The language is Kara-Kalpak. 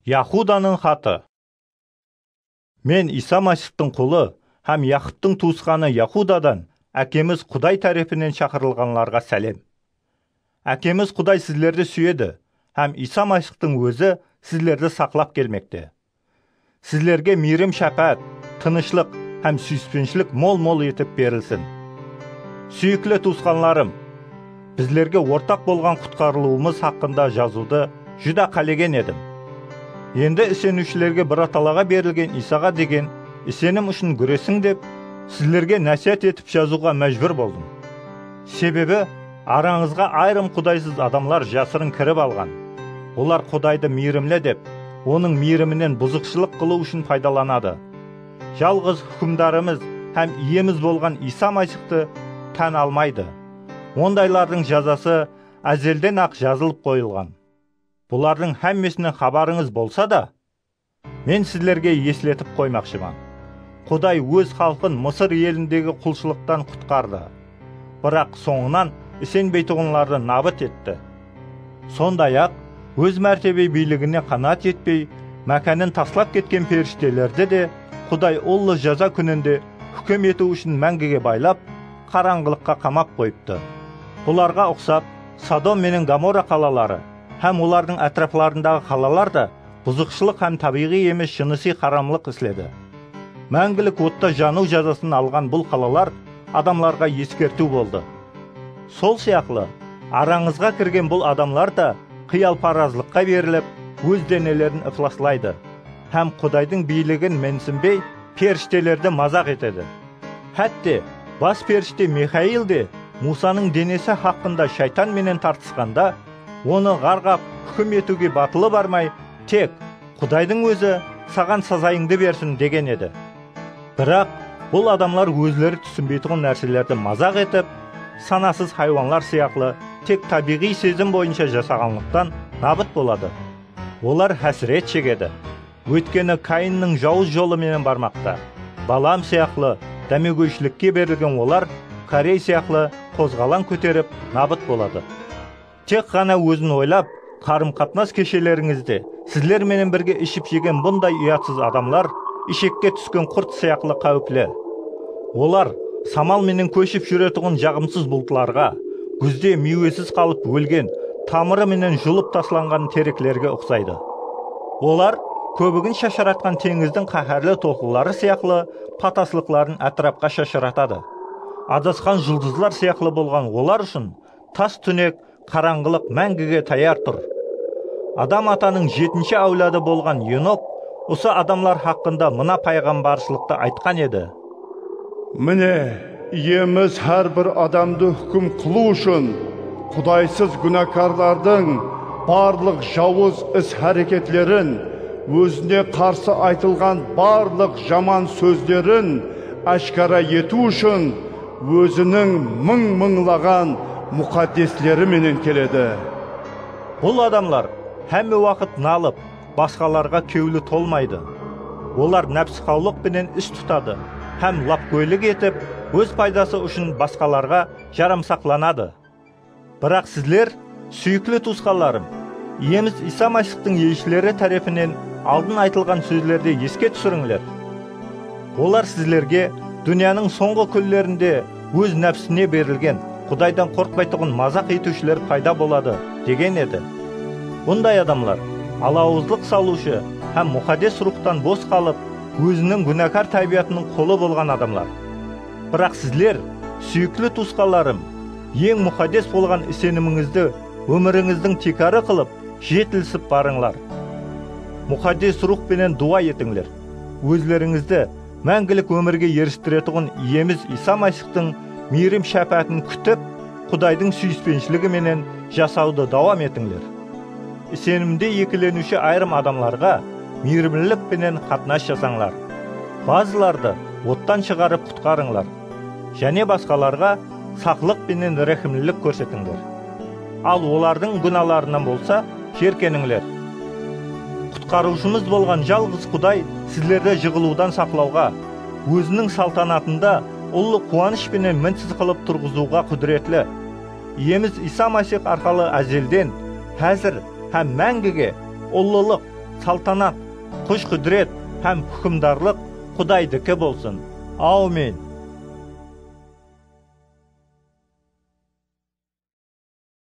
Yahudanıń xatı. Men, Iysa Masixtıń qulı hám Yaqıptıń tuwısqanı Yahudadan Ákemiz Quday tárepinen shaqırılǵanlarǵa sálem. Ákemiz Quday sizlerdi súyedi hám Iysa Masixtıń Ózi sizlerdi saqlap kelmekte. Sizlerge miyrim-shápáát, tınıshlıq hám súyispenshilik mol-mol etip berilsin. Súyikli tuwısqanlarım, bizlerge ortaq bolǵan qutqarılıwımız haqqında jazıwdı júdá qálegen edim. Endi iseniwshilerge Biratalaǵa berilgen Iysaǵa degen isenim ushın gúresiń dep, sizlerge násiyat etip jazıwǵa májbúr boldım. Sebebi, Arańızǵa ayırım qudaysız adamlar jasırın kirip alǵan. Olar Qudaydı miyrimli dep, Onıń miyriminen buzıqshılıq qılıw ushın paydalanadı. Jalǵız Húkimdarımız hám Iyemiz bolǵan Iysa Masixtı tán almaydı. Ondaylardıń jazası ázelden-aq jazılıp qoyılǵan. Bulardıń hámmesinen xabarıńız bolsa da, Men sizlerge esletip qoymaqshıman, Quday Óz xalqın Mısır elindegi qulshılıqtan qutqardı, biraq sońınan isenbeytuǵınlardı nabıt etti. Sonday-aq, Óz mártebe biyligine qanaat etpey, mákánin taslap ketken perishtelerdi de Quday ullı jaza kúninde húkim etiw ushın máńgige baylap, qarańǵılıqqa qamap qoyıptı. Bularǵa uqsap, Sodom menen Gomorra qalaları hám olardıń átiraplarındaǵı qalalar da buzıqshılıq hám tábiyǵıy emes jınısıy haramlıq isledi. Máńgilik otta janıw jazasın alǵan bul qalalar adamlarǵa eskertiw boldı. Sol sıyaqlı, arańızǵa kirgen bul adamlar da qıyalparazlıqqa berilip, óz denelerin iflaslaydı hám Qudaydıń biyligin mensinbey, perishtelerdi mazaq etedi. Hátte, bas perishte Mixail de Musanıń denesi haqqında shaytan menen tartısqanda, Onı ǵarǵap húkim etiwge batılı barmay, tek, Qudaydıń ózi saǵan sazayıńdı bersin, degen edi. Biraq, bul adamlar ózleri túsinbeytuǵın nárselerdi mazaq etip, sanasız haywanlar sıyaqlı tek tábiyǵıy sezim boyınsha jasaǵanlıqtan nabıt boladı. Olar hásiret shegedi. Óytkeni Kayinniń jawız jolı menen barmaqta. Balaam sıyaqlı dámegóyshilikke berilgen olar Korey sıyaqlı qozǵalań kóterip nabıt boladı. Tek ǵana ózin oylap, qarım-qatnas keshelerińizde sizler menen birge iship-jegen bunday uyatsız adamlar ishekke túsken qurt sıyaqlı qáwipli. Olar samal menen kóship júretuǵın jaǵımsız bultlarǵa, gúzde miywesiz qalıp ólgen, tamırı menen julıp taslanǵan tereklerge uqsaydı. Olar kóbigin shasharatqan teńizdiń qáhárli tolqınları sıyaqlı pataslıqların átirapqa shashıratadı. Adasqan juldızlar sıyaqlı bolǵan olar ushın tas túnek, qarańǵılıq máńgige tayar tur. Adam atanıń jetinshi áwladı bolǵan Enok usı adamlar haqqında mına payǵambarshılıqtı aytqan edi. Mine, Iyemiz hár bir adamdı húkim qılıw ushın Qudaysız gúnakarlardıń barlıq jawız is-háreketlerin, Ózine qarsı aytılǵan barlıq jaman sózlerin áshkara etiw ushın Óziniń mıń-mıńlaǵan muqaddesleri menen keledi. Bul adamlar hámme waqıt nalıp, basqalarǵa kewli tolmaydı. Olar nápsiqawlıq penen is tutadı hám lapgóylik etip, óz paydası ushın basqalarǵa jaramsaqlanadı. Biraq sizler, súyikli tuwısqanlarım, Iyemiz Iysa Masixtıń elshileri tárepinen aldın aytılǵan sózlerdi eske túsirińler. Olar sizlerge dúnyanıń sońǵı kúnlerinde Óz nápsine berilgen, Qudaydan qorqpaytuǵın mazaq etiwshiler payda boladı, degen edi. Bunday adamlar alawızlıq salıwshı hám Muxaddes Ruwxtan bos qalıp, óziniń gúnakar tábiyatınıń qulı bolǵan adamlar. Biraq sizler, súyikli tuwısqanlarım, eń muxaddes bolǵan isenimińizdi ómirińizdiń tiykarı qılıp, jetilisip barıńlar. Muxaddes Ruwx penen duwa etińler, ózlerińizdi Máńgilik ómirge eristiretuǵın Iyemiz Iysa Masixtıń miyrim shápáatin kútip, Qudaydıń súyispenshligi menen jasawdı dawam etińler. Isenimde ekileniwshi ayırım adamlarǵa miyrimlilik penen qatnas jasańlar. Bazılardı ottan shıǵarıp qutqarıńlar. Jáne basqalarǵa saqlıq penen ráhimlilik kórsetińler. Al olardıń gúnalarınan bolsa jerkenińler. Qutqarıwshımız bolǵan jalǵız Quday sizlerdi jıǵılıwdan saqlawǵa, Óziniń saltanatında ullı quwanısh penen minsiz qılıp turǵızıwǵa qúdiretli. Iyemiz Iysa Masix arqalı ázelden, házir hám máńgige ullılıq, saltanat, kúsh-qúdiret hám húkimdarlıq Qudaydiki bolsın! Awmin!